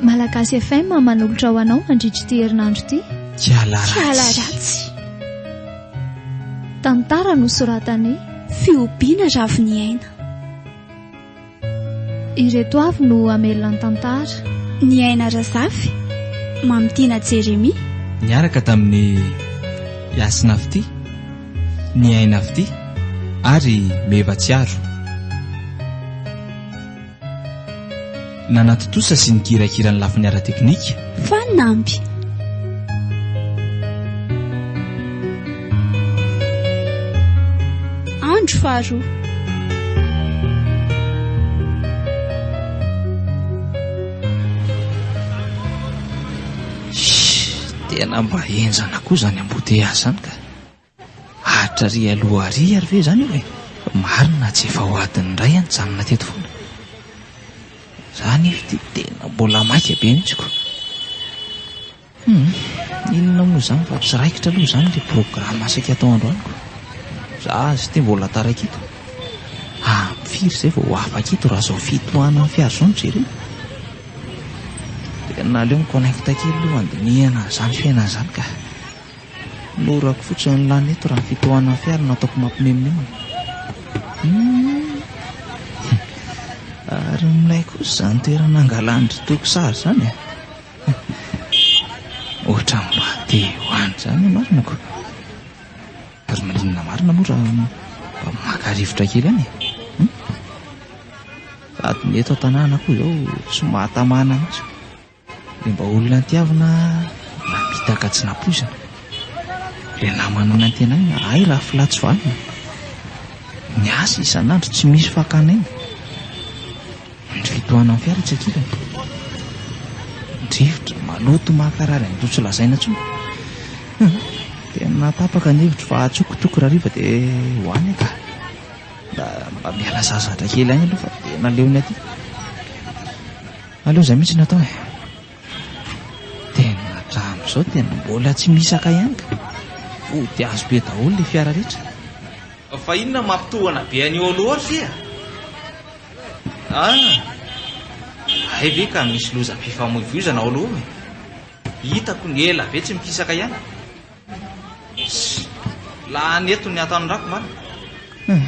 Malagasy FM manolotra ho anao mandritra ity herinandro ity. Kiala ratsy. Tantara nosoratan'i Fihobiana Raviniaina. Ireto avy no hamelona ny tantara. Ny aina Razafy, Mamitiana Jeremia. Niaraka tamin'i Yasina Fty, Ny aina Fty ary Meva Tsiaro. Nanatontosa sy nikirakira ny lafiny ara-teknika. Fanamby. Andro faharoa. Shh, tena mba henjana koa izany embouteillage izany ka. Aritra ry aloha ary ary ve zany io e? Marina tsy efa ho adiny iray aho nijanona teto foana. Za anefa ity tena mbola maika be mihitsy ko. Hum, inona moa izany fa tsy raikitra aloha izany ilay programa saika atao androany ko. Za azy ity mbola taraiky eto. Ah, firy izay vao ho afaka eto raha izao fitohanan'ny fiara izao no jerena. Tena aleo mi-connecta kely aloha handinihana an'izany fiainana izany ka. Norako fotsiny ny lany eto raha fitohanan'ny fiara no ataoko mampimemomemoa. Ary milay kosa izany toerana angalan-dry toiko sary izany e. Ohatra mba te ho any izany marinako. Ary maninona marina moa raha mba maka rivotra kely any e. Hmm? Sady ny eto an-tanàna koa izao tsy mahatamana mihitsy. Dia mba olona tiavina namita ka tsy nampoizina. Ilay namana nantenaina, hay raha filà tsy vanona. Miasa isan'andro tsy misy fakana aina. Ny fitohanan'ny fiara tsy ankilany. Drivotra, maloto mahakarary an'ireo tsy lazaina intsony. Dia natapaka ny hevitro fa atsokotoko rahariva dia ho any ka. Mba miala sasatra kely any aloha fa dia naleony aty. Aleo izay mihitsy no atao e. Tena hatramin'izao dia mbola tsy mihisaka ihany ka. Vody azo be daholo ilay fiara rehetra. Fa inona mampitohana be an'io ao loatra e? Ah, hay ve ka misy lozam-pifamoivoizana ao loha e? Hitako ny ela be tsy mikisaka ihany. Lany eto ny atanondrako mba. Hmm,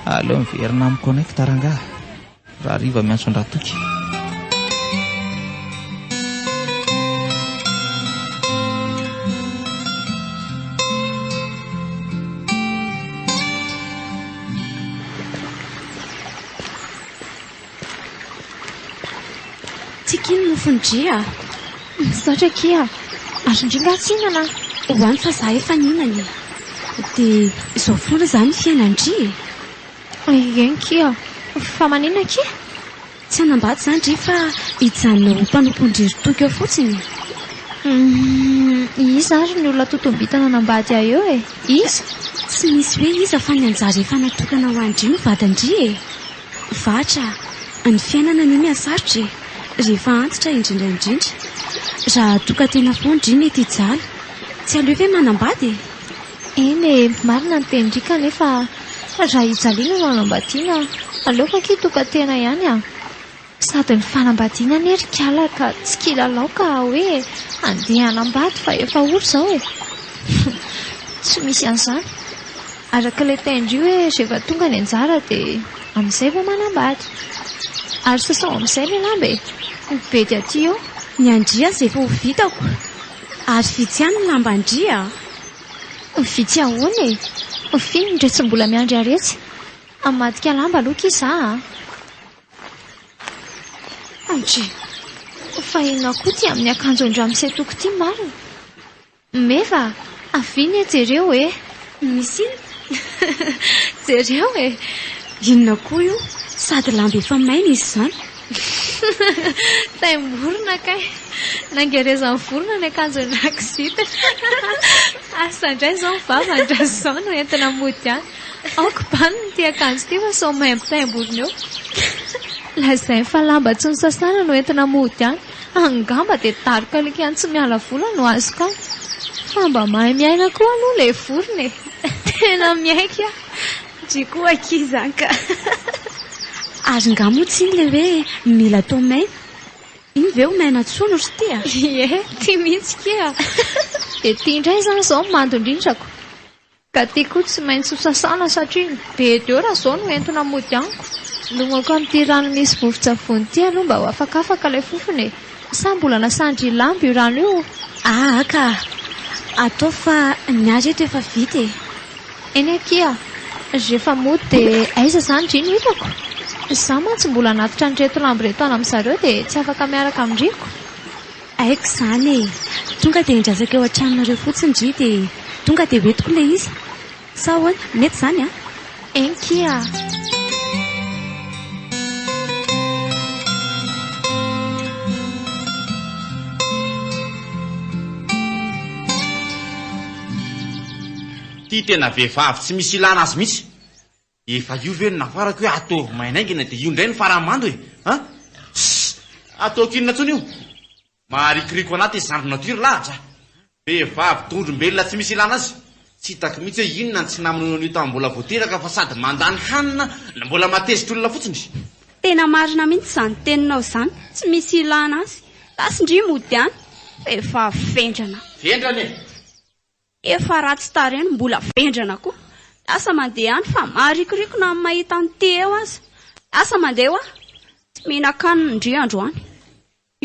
aleo miverina amin'ny connect rangaha. Rahariva miantso an-dRatoky. Tsika iny mofon'i Dria a! Misaotra akia a! Ary indrindra aho tsinana a! Hoany fa izaho efa nihinana e! Dia izao foana izany ny fiainan'i Dria e! Eny kia! Fa maninona kia? Tsy hanambady izany re fa hijanona ho mpanompon-dry Toky eo fotsiny e! Humm! Iza ary ny olona totom-bintana hanambady ahy eo e? Iza? Tsy misy hoe iza fa ny anjara efa natokana ho an-dry ny vadin-dry e! Vatra! Ny fiainana anie mihasarotra e! Rehefa antitra indrindra indrindra! Raha toka tena fo ny dry mety hijaly! Tsy aleo ve manambady e! Eny e, marina ny tenin-dry kanefa raha i Jalina no hanambadiana, aleoko akia tokan-tena ihany a! Sady ny fanambadiana anie ry kala ka tsy kilalao ka hoe handeha hanambady fa efa ory izao e! Tsy misy an'izany, araka ilay tenin-dry hoe rehefa tonga ny anjara dia amin'izay vao manambady. Ary sasao amin'izay ilay lamba e! Ny bedy aty eo. Ny an-dry aza efa ho vitako. Ary vitsy ihany ny lamban-dry a! Vitsy ahoana e! F'inona re tsy mbola miandry haretsy? Hamadika lamba aloha ki za a! Andry! Fa inona koa ity amin'ny akanjon-dramose toko ity marina? Meva a! Avia anie jereo e! Misy inona? Jereo e! Inona koa io? Sady lamba efa maina izy izany. Taim-borona kay. Nangerezan'ny vorona ny akanjon'ilay zipo. Asa indray izao ny vava an-dRazoa no entina mody any. Aoka bandy ity akanjo ity fa sao maimbo taim-borona eo. Lazainy fa lamba tsy nosasana no entina mody any. Angamba dia daroka likan tsy miala vola no azoko an! Fa mba mahay miaina koa aloha ilay vorona e! Tena miaiky an! Ndry koa akia izany ka! Ary nga moa tsy iny ilay hoe mila atao maina? Iny ve ho maina tsoa no ry tia? Ie, tia mihitsy kia! Dia tia indray izany izao ny mandon-drindrako! Ka ty koa tsy maintsy ho sasana satria be deo raha zao no entina mody amiko. Longoako amin'ity rano misy vovon-tsavony ity aloha mba ho afakafaka ilay fofona e! Sa mbola nasan-dry Lambo io rano io? Aa ka! Ataovy fa ny ahy reto efa vita e! Eny akia! Rehefa mody dia aiza izany dry no hitako? Izaho mantsy mbola hanatitra an'ireto Lambo ireto any amin'zareo dia tsy afaka miaraka amin-dry ko! Haiko izany e! Tonga dia endrasako eo an-tranonareo fotsiny ndry dia tonga dia ho entiko ilay izy. Sa ahoana? Mety izany an? Eny kia! Ity tena vehivavy tsy misy ilana azy mihitsy. Efa io ve no nafarako hoe ataovy maina aingana dia io indray no farany mando e! An! Ss! Ataoko inona intsony io? Maharikoriko anaty izy zandry natiora lahatra. Vehivavy dondrom-belona tsy misy ilana azy. Tsy hitako mihitsy hoe inona no tsy namonoany an'io tamin'ny mbola vao teraka fa sady mandany hanina no mbola matezitr'olona fotsiny. Tena marina mihitsy izany teninao izany, tsy misy ilana azy. Lasy ndry mody any. Vehivavy vendrana. Vendrana e! Efa ratsy tarehy no mbola vendrana koa. Lasa mandeha ihany fa maharikoriko na ny mahita an'ity eo aza. Lasa mandeha hoa. Tsy mihinan-kanina ndry androany.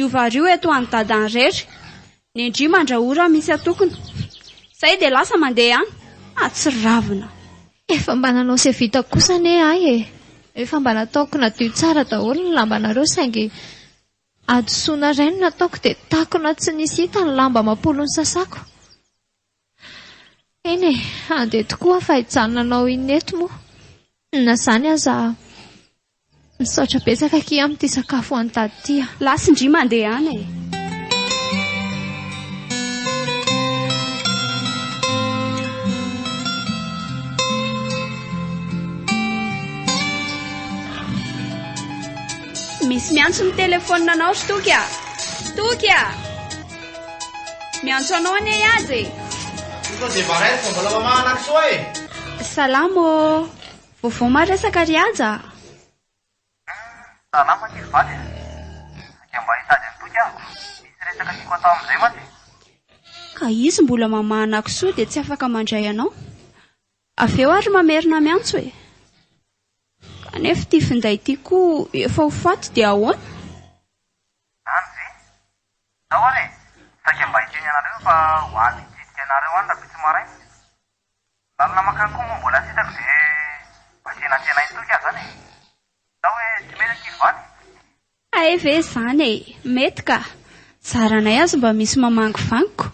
Io vary io eto ho an'i dada an'i rery. Ny ndry mandrahoa raha misy atokona. Izay dia lasa mandeha ihany. Ahatsiravina. Efa mba nanao sevita kosa anie ahy e! Efa mba nataoko nadio tsara daholo ny lambanareo saingy Hadisoana iray no nataoko dia takona tsy nisy hita ny lamba amam-polo nosasako. Eny e, handeha tokoa aho fa hijanona hanao inona eto moa? Na izany aza aho. Misaotra betsaka akia amin'ity sakafo ho an'i Dada ity a! Lasindria mandehana e! Misy miantso ny téléphone anao ry Toky a! Toky a! Miantso anao anie i Haja e! Efa dia maraina fa mbola mamahana an'i Soa e! Salama ô! Vaovao maresaka ry Haja a! Salama kely vady e! Sao dia mba hitady an'i Toky aho? Misy resaka tiako atao amin'izay mantsy e! Ka izy mbola mamahana an'i Soa dia tsy afaka mandray anao? Avy eo ary mamerina miantso e! Kanefa ity finday ity koa efa ho faty dia ahoana? Any ve? Zao ary e! Saika mba hiteny anareo fa ho any hitsidika anareo any rahampitso maraina. Lalana mankany koa moa mbola tsy hitako dia mba tena tena hitoky aho zany e! Zao hoe tsy mety ankizy vady? Hay ve zany e! Mety ka! Zaranay aza mba misy mamangivangy ko!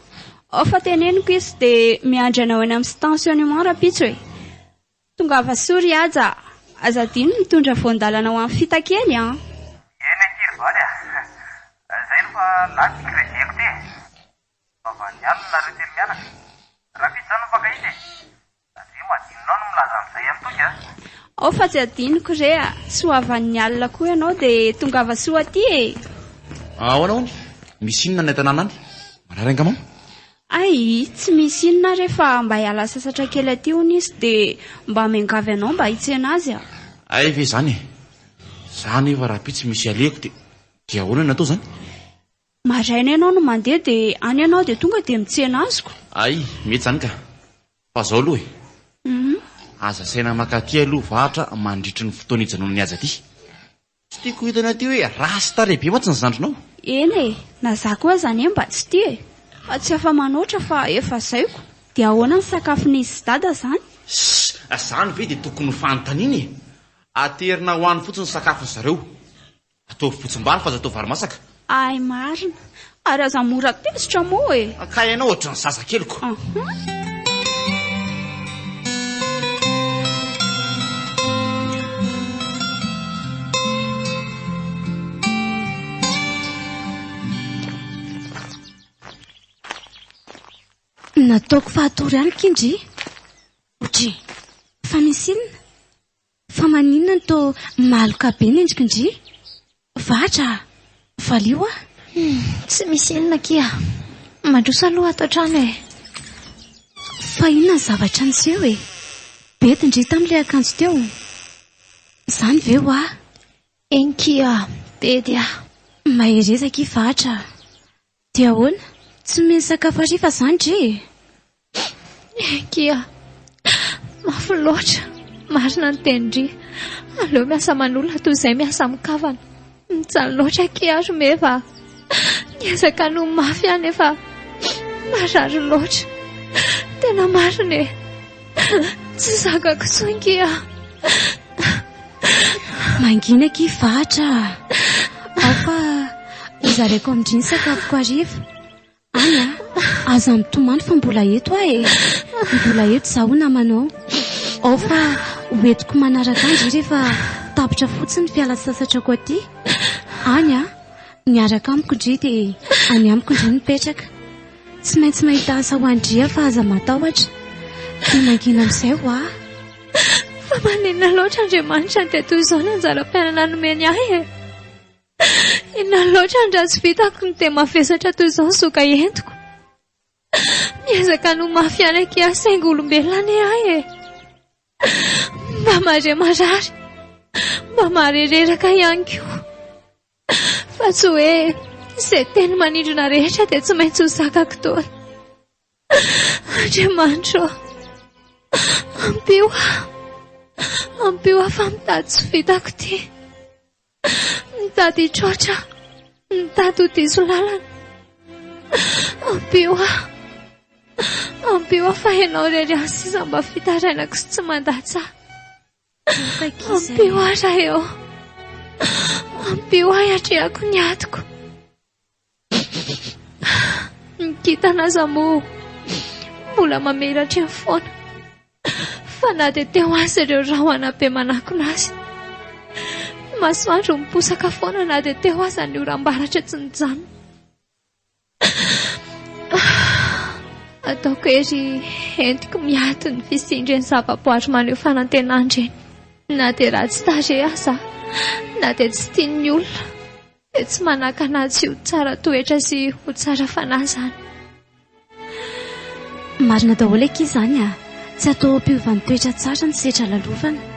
Ao fa teneniko izy dia miandry anao eny amin'ny stationnement rahampitso e! Tongava soa ry Haja a! Aza adino ny mitondra voan-dalana ho an'i Fita kely an! Eny ankiry vady a! Zay no fa lany ny crédit-ko ty e! Vavan'ny alina nareo telo mianaka! Rafito zany no mpankahita e! Adino adinonao ny milaza an'izay an'i Toky a! Ao fa tsy adinoko re a! Soavan'ny alina koa ianao dia tongava soa aty e! Ahoana hono? Misy inona any an-tanàna any? Marary angamamo? Hay, tsy misy inona re fa mba hiala sasatra kely aty hono izy dia mba miangavy anao mba hitsena azy a! Hay ve izany e! Za nefa raha pitsy misy ialeko dia dia ahoana no atao izany? Maraina ianao no mandeha dia any ianao dia tonga dia mitsena azy ko! Hay, mety izany ka! Fa izao aloha e! Aza asaina maka aty aloha vahatra mandritry ny fotoana hijanonany azy aty! Tsy tiako ho hitanao ity hoe rasta lehibe mantsy ny zandrinao. Eny e, na za koa aza anie mba tsy tia e, fa tsy afa-manoatra fa efa zaiko. Dia ahoana ny sakafon'izy sy dada zany? Ssss, izany ve dia tokony ho fanontaniana e? Aterina ho any fotsiny ny sakafon'zareo. Ataovy botsim-bary fa aza atao vary masaka. Hay marina. Ary aza mora tezitra moa e. Ka ianao ohatry ny zazakeliko. Ahh. Nataoko fahatory ihany k'indry. Otry, fa misy inona? Fa maninona no toa maloka be ny endrikindry? Vatra a! Valio a! Hum, tsy misy inona akia a! Mandroso aloha ato an-trano e! Fa inona ny zavatra niseho e? Bedy ndry tamin'ilay akanjo teo. Izany ve hoa? Eny kia, bedy a! Mahereza akia Vatra a! Dia ahoana? Tsy mino sakafo hariva zany re e! Enkia! Mafy loatra! Marina ny tenin-dry! Aleo miasa manolana toy izay miasa amin-kavana! Mijaly loatra akia aho ry meva a! Niezaka ny ho mafy aho nefa marary loatra! Tena marina e! Tsy zakako intsony kia! Mangina ki fatra. Ao fa hozaraiko amin-dry ny sakafoko hariva. Any ah, aza mitomany fa mbola eto aho e. Mbola eto za ho namanao. Ao fa hoentiko manaraka andry rehefa tapitra fotsiny ny fiala sasatrako aty. Any ah, miaraka amiko ndry dia any amiko ndry mipetraka. Tsy maintsy mahita asa ho an-dria fa aza matahotra. Dia mangina amin'izay hoa. Fa maninona loatra Andriamanitra no dia toy izao ny anjaram-piainana nomeny ahy e? Inona loatra ny ratsy vitako no dia mavesatra toy izao ny zoka entiko? Miezaka ny ho mafy ihany akia aho saingy olombelona anie ahy e! Mba mahare marary, mba mahare reraka ihany koa. Fa tsy hoe izay teny manindrona rehetra dia tsy maintsy ho zakako daholo. Andriamanitro ô, ampio aho, ampio aho fa mitady tsy vitako ity. Mitady hitroatra, mitady ho diso lalana. Ampio aho, ampio aho fa ianao irery ihany sisa mba fitarainako sy tsy mandatsa. Ampio ahy Raeo. Ampio ahy atrehako ny atiko. Ny kintana aza moa mbola mamela atreo foana. Fa na dia teo azy ireo rahona be manakona azy. Masoandro miposaka foana na dia teo aza ny oram-baratra tsy nijanona. Ataoko ery entiko miato ny fisindry ny zavaboary maneho fanantenandreny. Na dia ratsy tarehy aza, na dia tsy tian'ny olona, dia tsy manakana tsy ho tsara toetra sy ho tsara fanahy izany. Marina daholo akia izany ah, tsy atao ampiovany toetra tsara ny setra lalovana.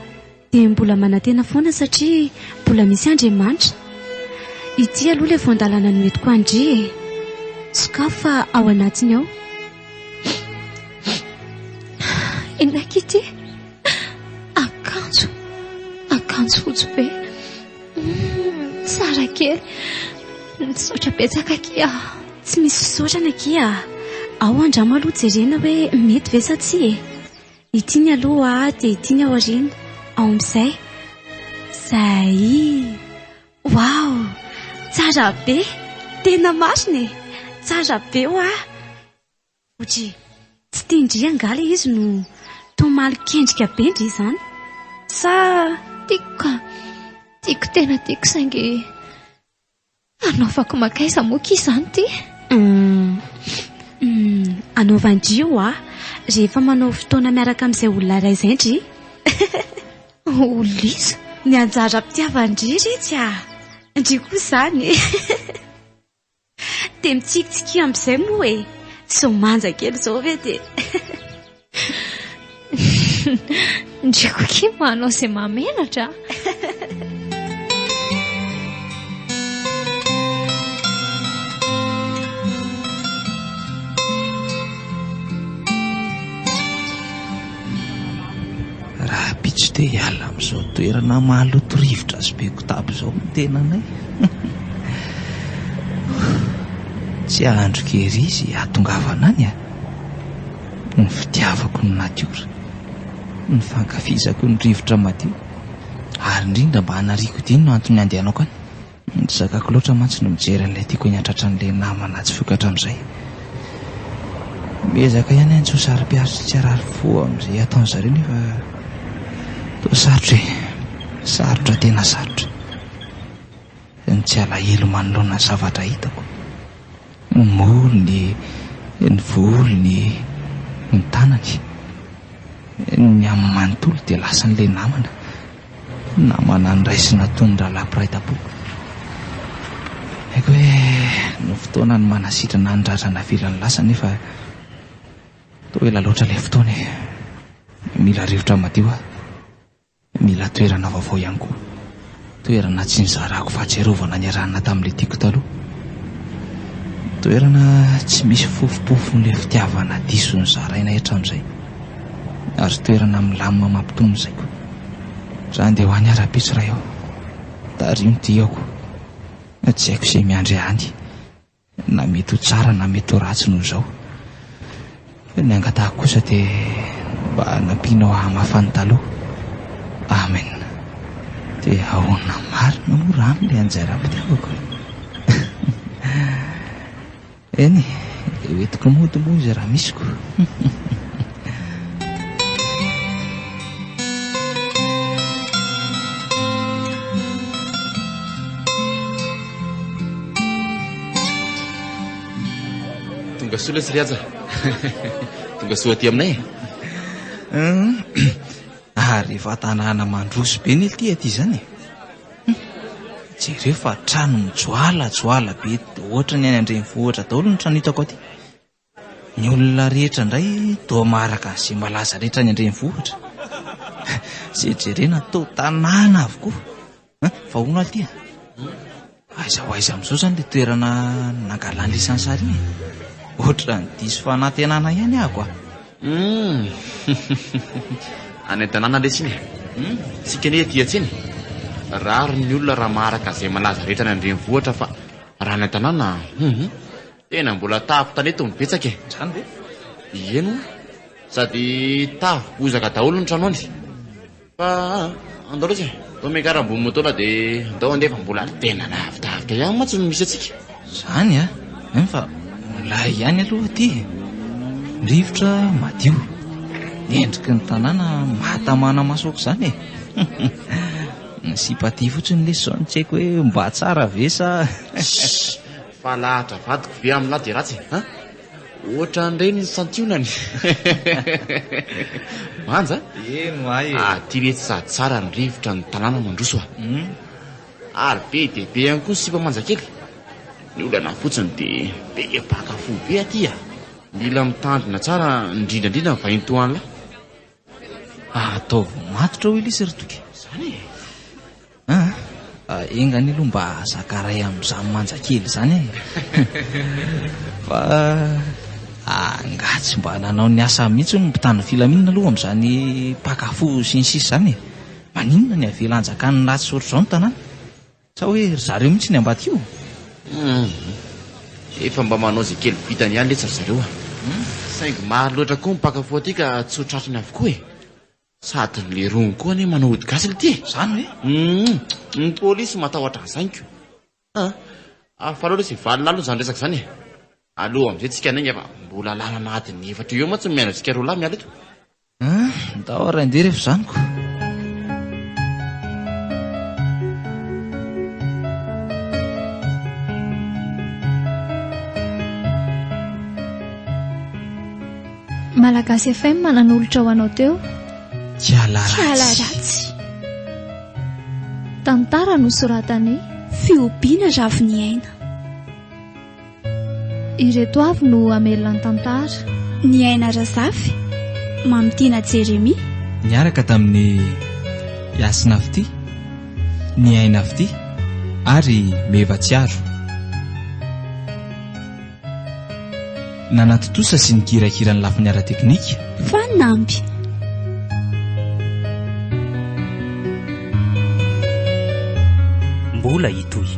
dia mbola manantena foana satria mbola misy Andriamanitra. Ity aloha ilay voan-dalana noentiko an-dry e. Sokafy fa ao anatiny ao. Inaiky ity akanjo, akanjo fotsy be. Hmm, tsara kely. Misaotra betsaka kia. Tsy misy fisaorana kia. Ao andramo aloha jerena hoe mety ve sa tsia e. Ity ny aloha dia ity ny aoriana ao amin'izay. Zay. Wow! Tsara be. Tena marina e. Tsara be hoa. Otry tsy tian-dry angaha ilay izy no toa malin-kendrika be ndry izany. Sa. Tiako ka. Tiako tena tiako saingy. Hanaovako makaiza moa ki izany ty? Anaovan-dry ho'a, rehefa manao fotoana miaraka amin'izay olona iray izay ndry. Olona iza? Ny anjaram-pitiavan-dry iretsy a! Ndry koa izany e! Dia mitsikitsikia amin'izay moa e! Sao manja kely izao ve dia. Ndreko kimo manao izay mamelatra Raha pitso te hiala amin'izao toerana maloto rivotra sy be kotaba izao ny tenanay Tsy hahandro kerizy hatongavana any a ah. Ny fitiavako ny natiora, ny fankafizako ny rivotra madio, ary indrindra mba hanariako ity no antony handehanako any. Ry Zakako loatra mantsy no mijery an'ilay tiako eny an-tratran'ilay namana tsy vokatra amin'izay. Miezaka ihany aho tsy ho saro-piaro sy tsy harary fo amin'izay ataon'ny zareo nefa toa sarotra e! Sarotra tena sarotra. ny tsy alahelo manoloana ny zavatra hitako, ny molony, ny volony, ny tanany, ny aminy manontolo dia lasan'ilay namana, namana noraisina toy ny rahalahy mpiray tampo. Haiko hoe no fotoana ny manasitrana ny ratra navelany lasa nefa toa ela loatra ilay fotoana e! Mila rivotra madio aho. Mila toerana vaovao ihany koa. Toerana tsy nizarako fahatsiarovana niarahanana tamin'ilay tiako taloha. Toerana tsy misy fofopofon'ilay fitiavana diso nozarainay hatramin'izay. Ary toerana milamina mampitony ny saiko. Za handeha ho any ary hampiditra ahy ao. Tariho ny diako. Tsy haiko izay miandry ahy any. Na mety ho tsara na mety ho ratsy noho izao. Ny angatahako kosa dia mba nampianao hamafa ny taloha. Amen. Dia ahoana marina moa raha aminy ilay anjara am-pitiavako e? Eny e, dia hoentiko mody moa izy raha misy ko. Tonga soa lesy ry aja. Tonga soa aty aminay. Ary efa tanàna mandroso be ny ity aty izany. Jereo fa trano mijoala joala be ohatran'ny any an-drenivohitra daholo ny trano hitako aty. Ny olona rehetra indray toa maharaka an'izay malaza rehetra any an-drenivohitra. Izay jerena toa tanàna avokoa. An, fa hono aho ity a! Aiza ho aiza amin'izao izany ilay toerana nangalan'i Lisany sary iny e? Ohatran'ny diso fanantenana ihany ahako a! Hum! Any an-tanàna lesy iny e! Hum! Isika anie ety an-tsena e! Rariny ny olona raha maharaka an'izay malaza rehetra any an-drenivohitra fa raha any an-tanàna, hum! Tena mbola tavy tanety no betsaka e. Zany ve? Ie no. Sady tavy bozaka daholo ny tranony. Fa andao lesy e. Andao miakara ambony motola de andao andeha fa mbola tena lavidavitra ihany mantsy no misy atsika. Zany a. Em fa milay ihany aloha aty e. Rivotra madio. Endriky ny tanàna mahatamana maso aok'izany e. Ny sipa aty fotsiny lesy zao no tsy haiko hoe mba tsara ve sa. Fa lahatra vadiko be aminah dia ratsy e! An! Ohatran'ireny ny santionany. Manja a! Eno ahy e! Aty re tsy sady tsara ny rivotra ny tanàna mandroso a! Ary be dia be ihany koa ny sipa manjakely. Ny olana fotsiny dia be mpaka fo be aty a! Mila mitandrina tsara indrindraindrindra ny vahiny toa anlah. Ataovy matotra hoy Lisy ry Toky. Izany e! Aa! Enga anie aloha mba zakaray amin'izany manja kely izany e! Fa angaha tsy mba nanao ny asany mihitsy hono ny mpitandro ny filaminana aloha amin'izany mpaka fo sy ny sisa izany e! Maninona ny avela hanjakan'ny ratsy ohatr'izao ny tanàna? Sa hoe ry zareo mihitsy ny ambadika io? Humm. Efa mba manao izay kely vitany ihany letsy ry zareo a! Saingy maro loatra koa ny mpaka foa aty ka tsy ho tratrany avokoa e! Sady ny leirony koa anie manao ody gasy lety e! Izany ve? Humm. Ny polisy matahotra an'izany ko! Aa! Hafa loatra izay valin'alina aloha izany resaka izany e! Aleo amin'izay tsika niainga fa mbola lalana adiny efatra eo eo mantsy no miandry antsika roa lahy miala eto. Ah! Ndao ary andeha refa zaniko. Malagasy FM nanolotra ho anao teo Kiala Ratsy. Tantara nosoratan'i Fihobiana Raviniaina. Ireto avy no hamelona ny tantara. Ny aina Razafy, Mamitiana Jeremia. Niaraka tamin'i Hasina Fitia, Ny aina Fitia ary Meva Tsiaro. Nanatontosa sy nikirakira ny lafiny ara-teknika Fanamby. Mbola hitohy.